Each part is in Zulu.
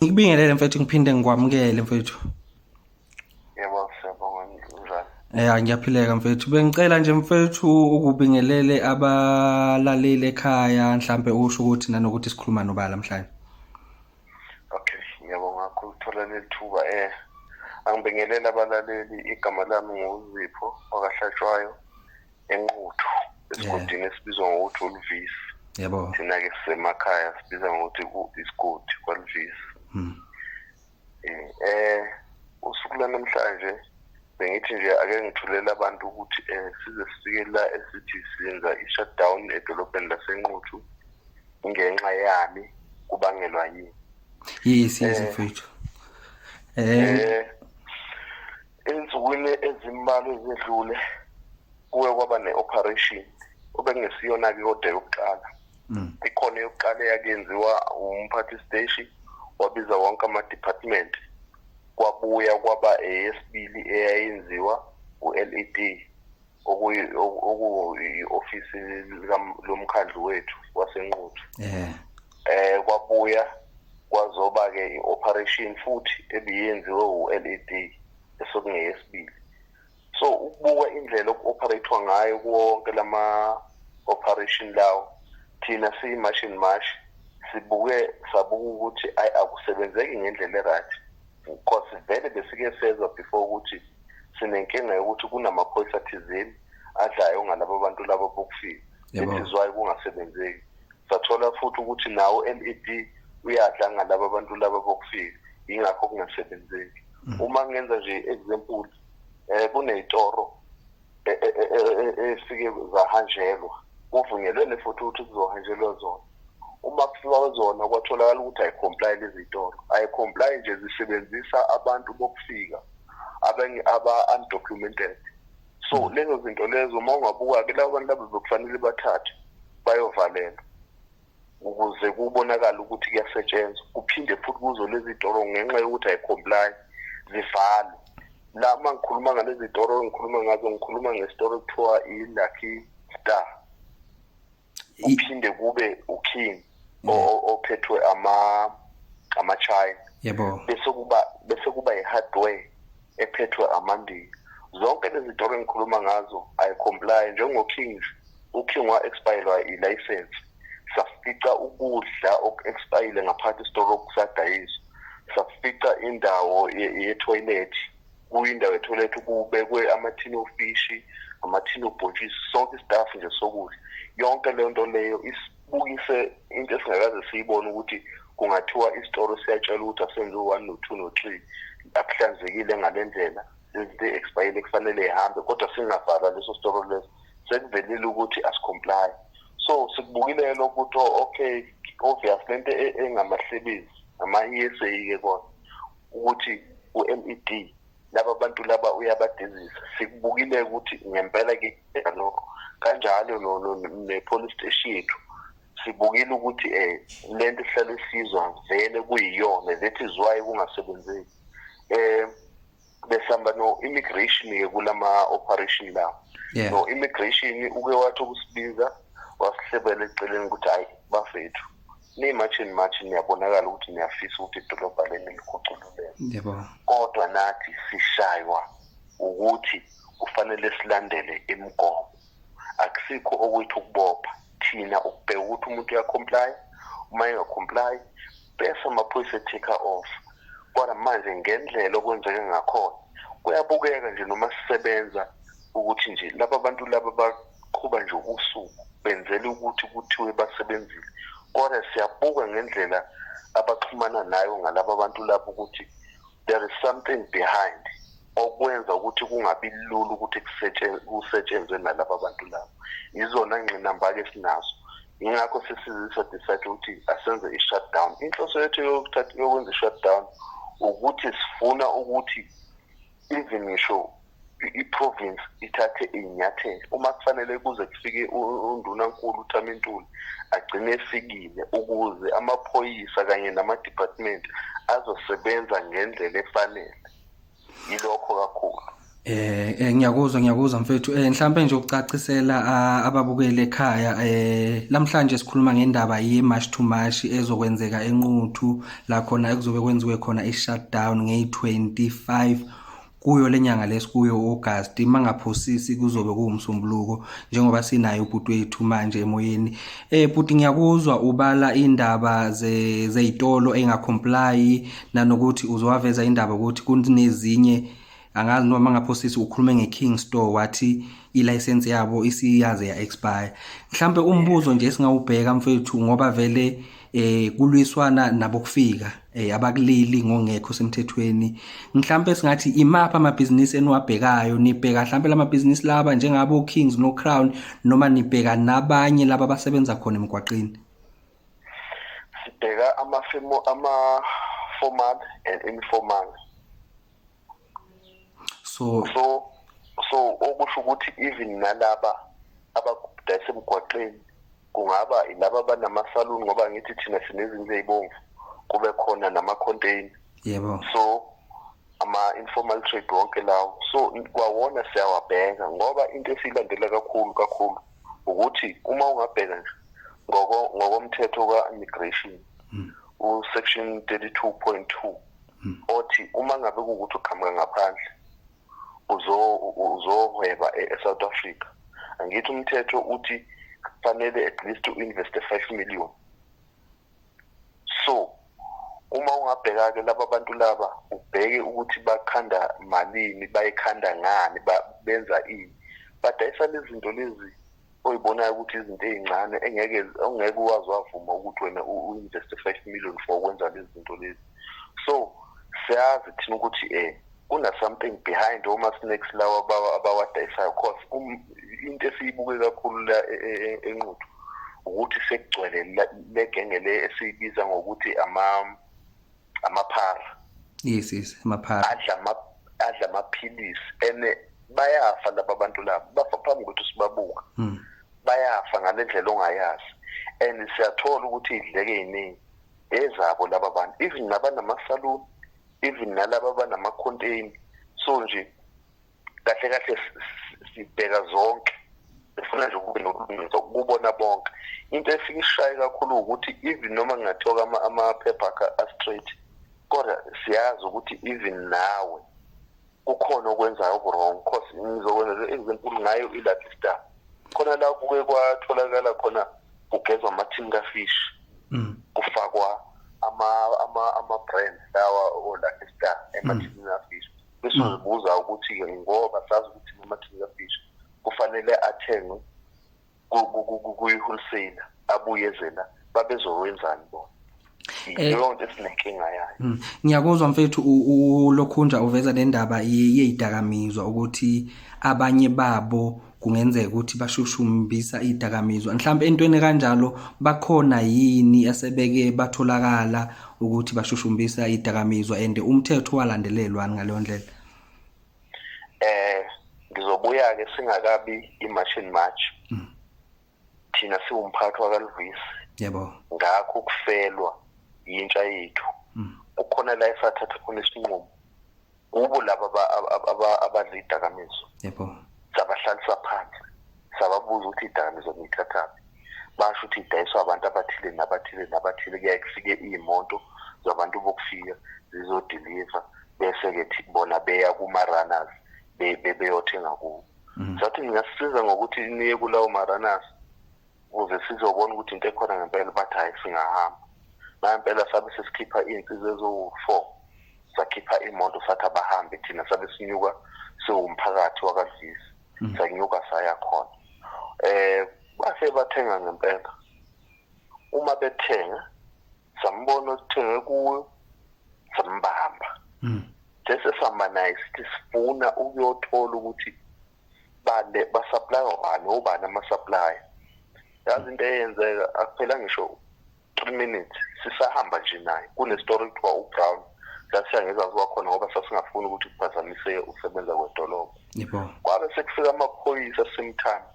Ngikubingelele mfethu ngiphinde ngikwamukele mfethu. Yebo siyabonga njani? Eh ngiyaphileka mfethu. Bengicela nje mfethu ukubingelele abalaleli ekhaya mhlambe usho ukuthi nanokuthi sikhuluma nobala mhlanje. Okay, ngiyabonga kakhulu thola lethuba eh angibingelele abalaleli igama lami nguZipho wakahlatshwayo enquthu esigodini esibizwa ngokuthi uluvisi yebo thina-ke sisemakhaya sibiza ngokuthi isigodi kwaluvisi hmm. eh, eh usuku lanamhlanje bengithi nje ake ngithulele abantu ukuthi um size sifike la esithi senza i-shutdown edolobheni lasenquthu ngenxa yami kubangelwa yini yes yes eh, mfethu eh, eh Ezinsukwini ezimbalwa ezedlule kuwe kwaba ne-operation obekungesiyona-ke kodwa yokuqala mm. ikhona yokuqala eyakenziwa umphathi steshi wabiza wonke ama-department kwabuya kwaba eyesibili eyayenziwa u-led okuyi-ofisi lomkhandlu wethu wasenquthu eh eh kwabuya kwazoba ke ioperation futhi ebiyenziwe uLED esokungeyesibili so ukubuka indlela okuoperatewa ngayo konke lama operation lawo thina siyi-machine mash sibuke sabuka ukuthi ayi akusebenzeki ngendlela e-right Nkosi vele besike sezwa before ukuthi sinenkinga yokuthi kunamaphoyisa thizeni adlayo ngalabo bantu labo bokufika isizwayo kungasebenzeki sathola futhi ukuthi nawo MED uyadla ngalabo bantu laba bokufika ingakho kungasebenzeki mm. uma ngenza nje example eh kunezitoro e, e, e, esike zahanjelwa kuvunyelwene futhi ukuthi kuzohanjelwa zona uma kufika zona kwatholakala ukuthi ayicomply lezi zitolo ayicomply nje zisebenzisa abantu bokufika abanye aba-undocumented so hmm. lezo zinto lezo uma ungabuka-ke labo bantu labo bekufanele bathathe bayovalelwa ukuze kubonakale ukuthi kuyasetshenzwa kuphinde futhi kuzo lezi toro ngenxa yokuthi ayicomply zivale la uma ngikhuluma ngalezi toro ngikhuluma ngazo ngikhuluma ngesitoro kuthiwa i-lucky star kuphinde kube uking ophethwe ama-china yebo bese kuba bese kuba i-hardware ephethwe amandiya zonke lezi tori engikhuluma ngazo i comply njengokings uking wa-expirelwa i-license safica ukudla oku-expayile ngaphansi isitoro okusadayiswa safica indawo yethoyilethi kuyindawo yethoyilethi kubekwe amathini ofishi amathini obhontshisi sonke istaff nje sokudla yonke leyo nto leyo isp Ukise into esingakaze siyibone ukuthi kungathiwa isitoro siyatshela ukuthi asenze u-one no-two no-three akuhlanzekile ngale ndlela izinto e-expayile kufanele ihambe kodwa singavala leso sitoro leso sekuvelile ukuthi asicomply so sikubukile lokhu ukuthi oh, okay obvious le nto e-, engamahlebezi ama-e s a-ke kona ukuthi u-med laba bantu laba uyabadizisa sikubukile ukuthi ngempela ke lokho kanjalo ne-police station yethu sibukile ukuthi um lento ihlale isizwa vele kuyiyona that is why kungasebenzeki um besihamba no-immigration-ke kula ma-operation lawo yeah. no immigration uke wathi ukusibiza wasihlebela eceleni ukuthi hayi bafethu niyi-march and march niyabonakala ukuthi niyafisa ukuthi idolobha leni likhucululeke kodwa nathi sishaywa ukuthi kufanele silandele imigomo akusikho okwethu ukubopha thina ukubheka ukuthi umuntu uyakhomplaya uma engakhomplayi bese amaphoyisa ethicker off kodwa manje ngendlela okwenzeke ngakhona kuyabukeka nje noma sisebenza ukuthi nje laba bantu laba qhuba nje usuku benzela ukuthi kuthiwe basebenzile kodwa siyabuka ngendlela abaxhumana nayo ngalaba bantu lapho ukuthi there is something behind okwenza ukuthi kungabi lula ukuthi kusetshenzwe nalaba bantu labo yizona ngqinamba-ke sinazo yingakho sesizisa decide ukuthi asenze i-shutdown inhloso yethu yokwenza i-shutdown ukuthi sifuna ukuthi even ngisho i-province ithathe iy'nyathelo uma kufanele kuze kufike undunankulu uthamintuli agcine efikile ukuze amaphoyisa kanye nama-department azosebenza ngendlela efanele yilokho kakhulu Eh, eh ngiyakuzwa ngiyakuzwa mfethu eh mhlambe nje ukucacisela ah, ababukeli ekhaya eh namhlanje sikhuluma ngendaba ye March to March ezokwenzeka enquthu la khona ekuzobe kwenziwe khona i-shutdown ngeyi-25 kuyo lenyanga lesikuyo August mangaphosisi kuzobe kuwumsombuluko njengoba sinayo ubhuti wethu manje emoyeni eh bhuti ngiyakuzwa ubala indaba zezitolo engacomply nanokuthi uzowaveza indaba ukuthi kunezinye angazi noma ngaphosisi ukhulume ngeKing Store wathi ilicense yabo isiyaze ya expire mhlambe umbuzo nje singawubheka mfethu ngoba vele eh kulwiswana nabokufika eh abakuleli ngongekho semthethweni mhlambe singathi imapha amabhizinisi eniwabhekayo nibheka mhlambe lamabhizinisi laba njengabo Kings no Crown noma nibheka nabanye laba abasebenza khona emgwaqeni sibheka amafemo ama formal and informal so so so okusho ukuthi even nalaba abakudayisa emgwaqeni kungaba laba banamasaluni ngoba ngithi thina sinezindlu ezibomvu kube khona nama-container yebo so ama-informal trade wonke lawo so kwawona siyawabheka ngoba into esiyilandela kakhulu kakhulu ukuthi uma ungabheka nje ngokomthetho ka-immigration mm. usection 32.2 hmm. othi uma ngabe kuwukuthi uqhamuka ngaphandle uzohweba e-, e-south africa angithi umthetho uthi kufanele at least u-investe five million so uma ungabheka-ke laba bantu laba ubheke ukuthi bakhanda malini bayikhanda ngani benza ini badayisa lezi zinto lezi oyibonayo ukuthi izinto ezincane engeke ongeke uwazi wavuma ukuthi wena uinvest 5 million for ukwenza lezi zinto lezi so siyazi thina ukuthi eh kuna something behind oma snakes lawa abawadayisayo cause um, into esiyibuke kakhulu la e, e, e, enquthu ukuthi sekugcwele legenge le esiyibiza ngokuthi ama amaphara yes yes amaphara adla ama adla amaphilisi ene bayafa laba bantu labo bafa phambi kokuthi sibabuka hmm. bayafa ngale ndlela ongayazi and siyathola ukuthi idleke yiningi ezabo laba bantu even nabanamasaluni even nalaba banamacontain so nje kahle kahle sibheka zonke sifuna nje ukube nokulungiswa kubona bonke into efike ishaye kakhulu ukuthi even noma ngingathoka amaphepha a-straight kodwa siyazi ukuthi even nawe kukhona okwenzayo okurong cause ngizokwenza ezinkulu ngayo ilaphi star khona la kuke kwatholakala khona kugezwa amathini kafish mm. kufakwa ama-brand lawa olaphi star emathinini mm. afish bese mm. uzibuza ukuthi-ke ngoba sazi ukuthi namathini kafish kufanele athengwe kuyi-wholesale abuye ezela babezowenzani bona Eh, leyo nto esinenkinga yayo hmm. ngiyakuzwa mfethu ulokhunja uveza le ndaba yeyidakamizwa ukuthi abanye babo kungenzeka ukuthi bashushumbisa idakamizwa mhlawumbe entweni kanjalo bakhona yini asebeke batholakala ukuthi bashushumbisa idakamizwa and umthetho walandelelwani ngaleyo ndlela eh ngizobuya ke singakabi i-machine march mm. thina siwumphathi wakaluvisi yebo ngakho ukufelwa yintsha yethu mm. ukhona la esathatha khona isinqumo kubo laba abadla idakamizwa yebo sabahlalisa phansi sababuza ukuthi idakamizwa niyithathaphi basho ukuthi idayiswa abantu abathile nabathile nabathile kuyaye kufike iy'moto zabantu bokufika zizodiliva bese-ke bona beya kuma-runners beyothenga kubo mhm. sathi ngingasisiza ngokuthi niye kulawo maranas ukuze sizobona ukuthi into ekhona ngempela bathi hhayi singahamba nampela sabe sesikhipha iy'nsiza eziwu-four sakhipha imoto sathi abahambe thina sabe sinyuka siwumphakathi wakadlisi mhm. sanyuka saya khona um base bathenga ngempela uma bethenga sambona osithenge kuyo sambamba mm. bese sihamba naye sithi sifuna ukuyothola ukuthi bale basupply wani obani ama supply yazi into eyenzeka akuphela ngisho 3 minutes sisahamba nje naye kune story kuthiwa u Brown sasiya ngezazi wakhona ngoba sasingafuni ukuthi kuphazamise usebenza kwedolobha yebo kwabe sekufika amaphoyisa simthanda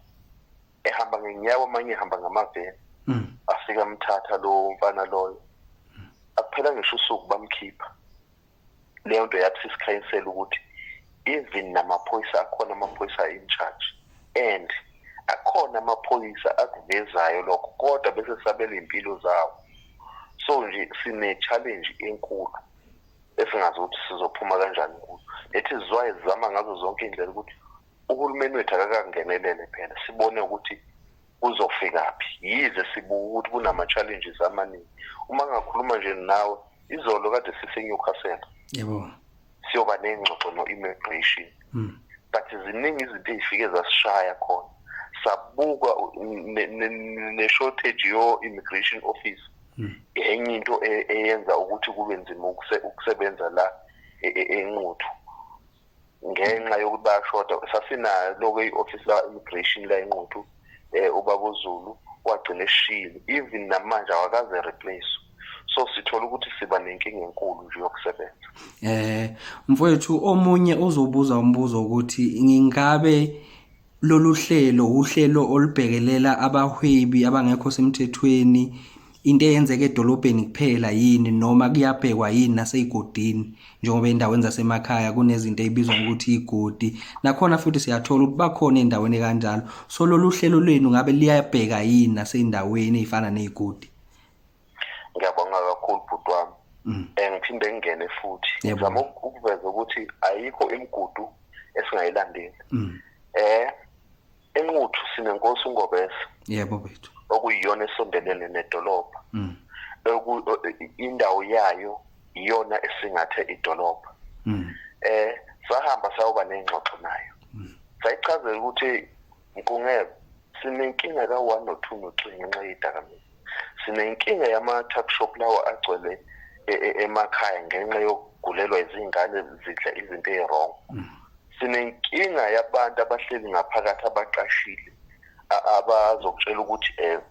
ehamba ngenyawo amanye ehamba ngamaveni mm. afika amthatha lowo mfana loyo akuphela ngisho usuku bamkhipha leyo nto yathi sisikhayinsela ukuthi even namaphoyisa akhona amaphoyisa in charge and akhona amaphoyisa akuvezayo lokho kodwa bese sabela impilo zawo so nje sine challenge enkulu esingazi ukuthi sizophuma kanjani kuyo lethi izizwayo zizama ngazo zonke indlela ukuthi uhulumeni wethu akakangenelele phela sibone ukuthi uzofikaphi yize sibuka ukuthi kunama-challenges amaningi uma ngakhuluma nje nawe izolo kade siseNewcastle yebo siyoba nengxoxo no-immigration hmm. but ziningi izinto ezifike zasishaya khona sabuka ne-shortage yo-immigration office hmm. enye into e-, eyenza ukuthi kube nzima ukusebenza la e-, e-, enquthu ngenxa yokuthi bayashoda sasinaloke i-ofisi la-immigration la enquthu um ubabuzulu wagcina eshile even namanje awakaze replace so sithola ukuthi siba nenkinga enkulu nje yokusebenza eh mfowethu omunye uzobuza umbuzo ukuthi ngingabe Lolu hlelo uhlelo olubhekelela abahwebi abangekho semthethweni into eyenzeka edolobheni kuphela yini noma kuyabhekwa yini nasezigodini njengoba endaweni zasemakhaya kunezinto ezibizwa ngokuthi igodi nakhona futhi siyathola ukuthi bakhona endaweni kanjalo so lolu hlelo lwenu ngabe liyabheka yini nasezindaweni ezifana nezigodi ngiyabonga kakhulu bhuti wami mm. eh, ngiphinde ngingene futhi ngizama ukuveza ukuthi ayikho imigudu esingayilandeli mm. eh enquthu sinenkosi ungobese yebo bethu okuyiyona esondelene nedolobha mm. indawo yayo iyona esingathe idolobha eh sahamba sayoba nengxoxo nayo sayichazela ukuthi Mqungebe, sinenkinga ka-one no-two no-three ngenxa yedakamizwa sinenkinga yama-tuck shop lawo agcwele e, e, emakhaya ngenxa yokugulelwa izingane zidla izinto eyi-wrong mm. sinenkinga yabantu abahleli ngaphakathi abaqashile abazokutshela ukuthi um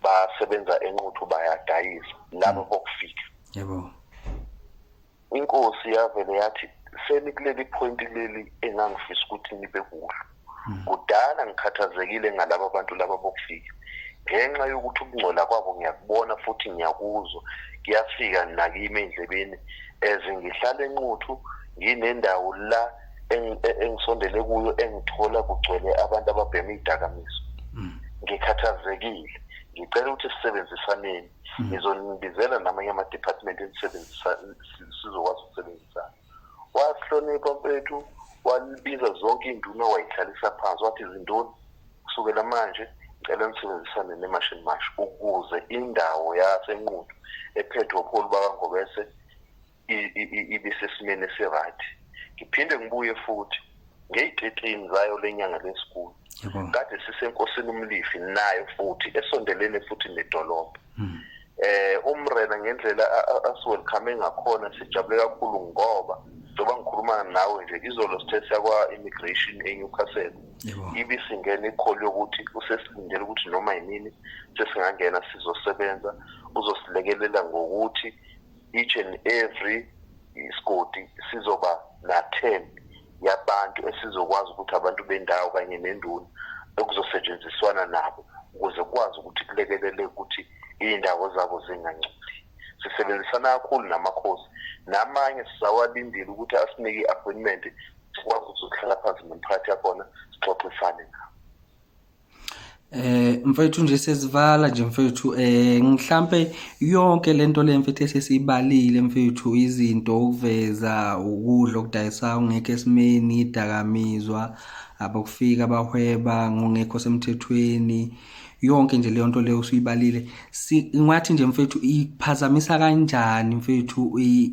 basebenza enquthu bayadayisa labo mm. bokufika yebo inkosi yavele yathi senikuleli point leli engangifisa ukuthi nibe kulo hmm. kudala ngikhathazekile ngalabo bantu laba bokufika ngenxa yokuthi ukungcola kwabo ngiyakubona futhi ngiyakuzwa kuyafika nakimi endlebeni as ngihlale enquthu nginendawo la engisondele kuyo engithola kugcwele abantu ababhema idakamizwa hmm. ngikhathazekile ngicela ukuthi sisebenzisaneni hmm. ngizonibizela namanye ama-department enisebenzisa sizokwazi ukusebenzisana wasihlonipha mfethu walibiza zonke iy'nduna wayihlalisa phansi wathi izintoni kusukela manje ngicela nisebenzisane nemashini mash ukuze indawo yasenqudu ephethwe upholi bakangobese ibe sesimeni esiright ngiphinde ngibuye futhi ngey'tetini zayo le nyanga lesikulu kade sisenkosini umlifi nayo futhi esondelene futhi nedolobha hmm. eh umrena ngendlela asiwelcome ngakhona sijabule kakhulu ngoba njengoba ngikhuluma nawe nje izolo sithe siyakwa immigration eNewcastle ibisingena ikholi yokuthi usesilindele ukuthi noma yinini sesingangena sizosebenza uzosilekelela ngokuthi each and every isigodi sizoba na-10 yabantu esizokwazi ukuthi abantu bendawo kanye nenduna ekuzosetshenziswana nabo ukuze kukwazi ukuthi kulekelele ukuthi iy'ndawo zabo zingangcoli sisebenzisana kakhulu namakhosi namanye sizawalindile ukuthi asinike i-appointment sikwazi ukuzohlala phansi nomphakathi yakhona sixoxisane nabo Eh mfethu nje sesivala nje mfethu eh mhlambe yonke lento le mfethu esesibalile mfethu izinto ukuveza ukudla okudayisa ungekho esimeni idakamizwa abokufika bahweba ngongekho semthethweni yonke nje leyo nto leyo usuyibalile ngathi nje mfethu iphazamisa kanjani mfethu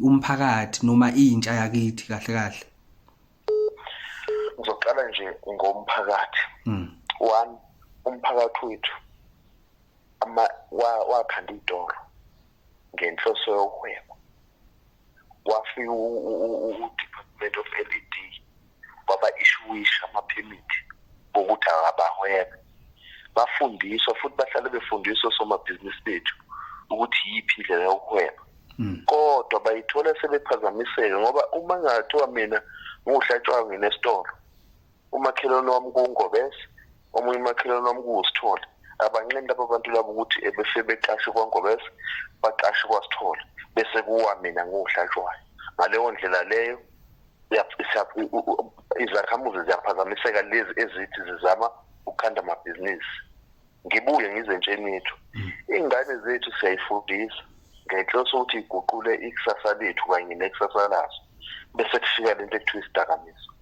umphakathi noma intsha yakithi kahle kahle ngizoqala nje ngomphakathi mm. one umphakathi wethu ama wakhanda idoro ngenhloso yokuhweba wafika u-department of led waba ishuwisha amaphemithi okuthi abahwebe bafundiswa futhi bahlale befundiswa somabhizinisi bethu ukuthi yiphi indlela yokuhweba hmm. kodwa bayithola sebephazamiseke ngoba uma ngathiwa mina ngiwuhlatshwayo nginesitolo umakhelwane wami kuwungobese omunye umakhelwane wami kuwusithole abanqeni laba bantu labo ukuthi ebese beqashe kwangobese baqashe kwasithole bese kuwa mina ngiwuhlatshwayo ngaleyo ndlela leyo izakhamuzi ziyaphazamiseka lezi ezithi zizama ukukhanda amabhizinisi ngibuye ngize ntshenithu mm. iy'ngane zethu siyayifundisa ngenhloso ukuthi iguqule ikusasa lethu kanye nekusasa lazo bese kufika le nto ekuthiwa isidakamizwa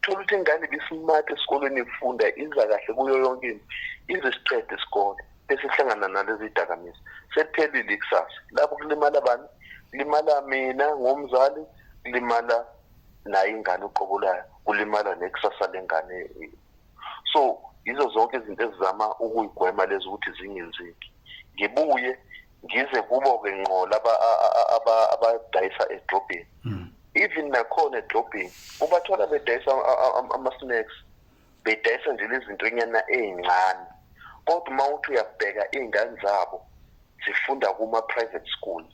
thola ukuthi ingane ibisimati esikolweni ifunda iza kahle kuyo yonke into ize siqede isikole bese ihlangana nalezi dakamizwa sekuphelile ikusasa lapho kulimala bani kulimala mina ngomzali kulimala naye ingane uqobo layo kulimala nekusasa lengane so yizo zonke izinto ezizama ukuyigwema lezi ukuthi zingenzeki ngibuye ngize kubo-ke ngqo laba abadayisa edrobheni hmm. even nakhona edrobheni ubathola bedayisa ama-snacks bedayisa nje lezintonyana ey'ncane kodwa uma uthi uyabheka iy'ngane zabo zifunda kuma-private school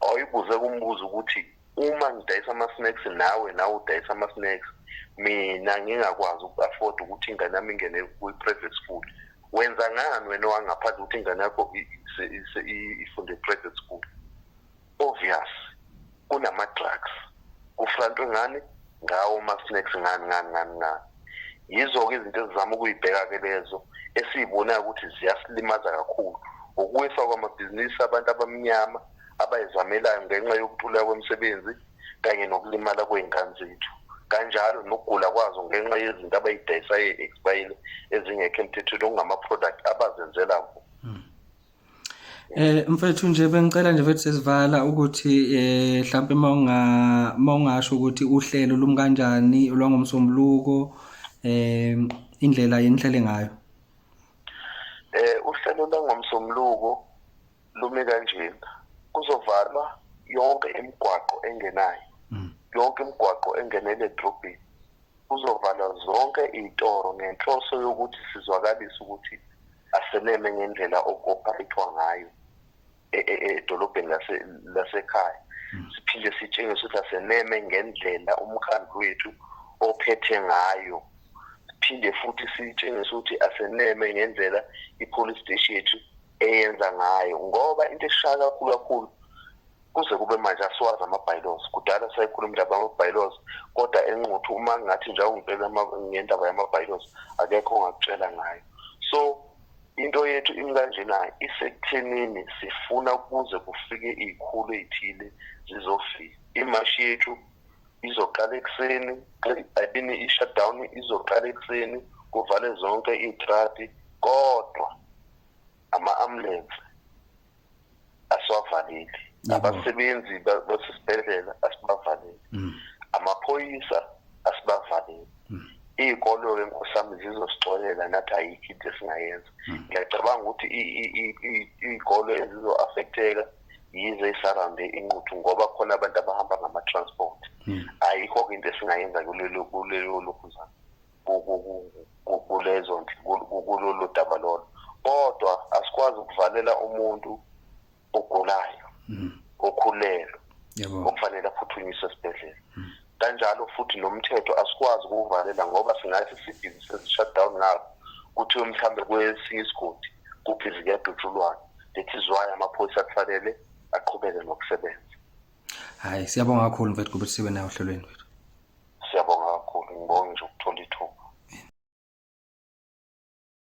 awuyibuze kumbuzo ukuthi uma ngidayisa ama-snacks nawe nawe udayisa ama-snacks mina ngingakwazi uku-afford ukuthi ingane yami ingene kwi-private school wenza ngani wena owangaphandle ukuthi ingane yakho ifunde i-private school obvious kunama-drugs kufrantwe ngani ngawo ama-snacks ngani ngani ngani ngani yizo-ke izinto ezizama ukuyibheka-ke lezo esiyibonayo ukuthi ziyasilimaza kakhulu ukuwisa kwamabhizinisi abantu abamnyama abayizamelayo ngenxa yokuntuleka kwemisebenzi kanye nokulimala kwey'ngane zethu kanjalo nokugula kwazo ngenxa yezinto abayidayisayo e-expirile ezingekho emthethweni okungama-product abazenzela ngo hmm. Eh mfethu nje bengicela nje mfethu sesivala ukuthi eh mhlambe mawunga mawungasho ukuthi uhlelo lumkanjani lwangomsombuluko eh indlela yenihlele ngayo. Eh uhlelo lwangomsombuluko lume kanjena kuzovalwa yonke imigwaqo engenayo mm. yonke imigwaqo engenele edrobheni kuzovalwa zonke iy'toro ngenhloso yokuthi sizwakalise ukuthi aseneme ngendlela okopharithwa ngayo e, e, e, edolobheni lasekhaya mm. siphinde sitshengise ukuthi aseneme ngendlela umkhandlu wethu ophethe ngayo siphinde futhi sitshengise ukuthi aseneme ngendlela i-police station yethu eyenza ngayo ngoba into eshaya kakhulu kakhulu kuze kube manje asiwazi ama-bylaws kudala sayikhuluma indaba yama-bylaws kodwa enquthu uma ngathi nje awungitshela ngendaba yama-bylaws akekho ongakutshela ngayo so into yethu imi kanjena isekuthenini sifuna kuze kufike iy'khulu ey'thile zizofika imashi yethu izoqala ekuseni ayibini i-shutdown izoqala ekuseni kuvale zonke iy'tradi kodwa ama-ambulensi asiwavaleli abasebenzi basesibhedlela asibavaleli mm. amaphoyisa asibavaleli mm. iy'kolo-ke nkosami zizosixolela nathi ayikho into esingayenza mm. ngiyacabanga ukuthi iy'kolo ezizo-affekteka yize isarambe inquthu ngoba khona abantu abahamba ngama-transport ayikho-ke into esingayenza kulelo lokhuzana kulezo kulolu daba lolo kodwa asikwazi ukuvalela umuntu ogulayo mm. okhulelwe okufanele aphuthunyiswe esibhedlela mm. kanjalo futhi nomthetho asikwazi ukuwuvalela ngoba singathi sibhizi sezi-shutdown ngabo kuthiwe mhlawumbe kwesinye isigodi kubhizi kuyadutshulwana that is why amaphoyisa kufanele aqhubeke nokusebenza hayi siyabonga kakhulu mfethu kubuthi sibe nayo ohlelweni wethu Siyabonga kakhulu, ngibonge nje ukuthola ithuba.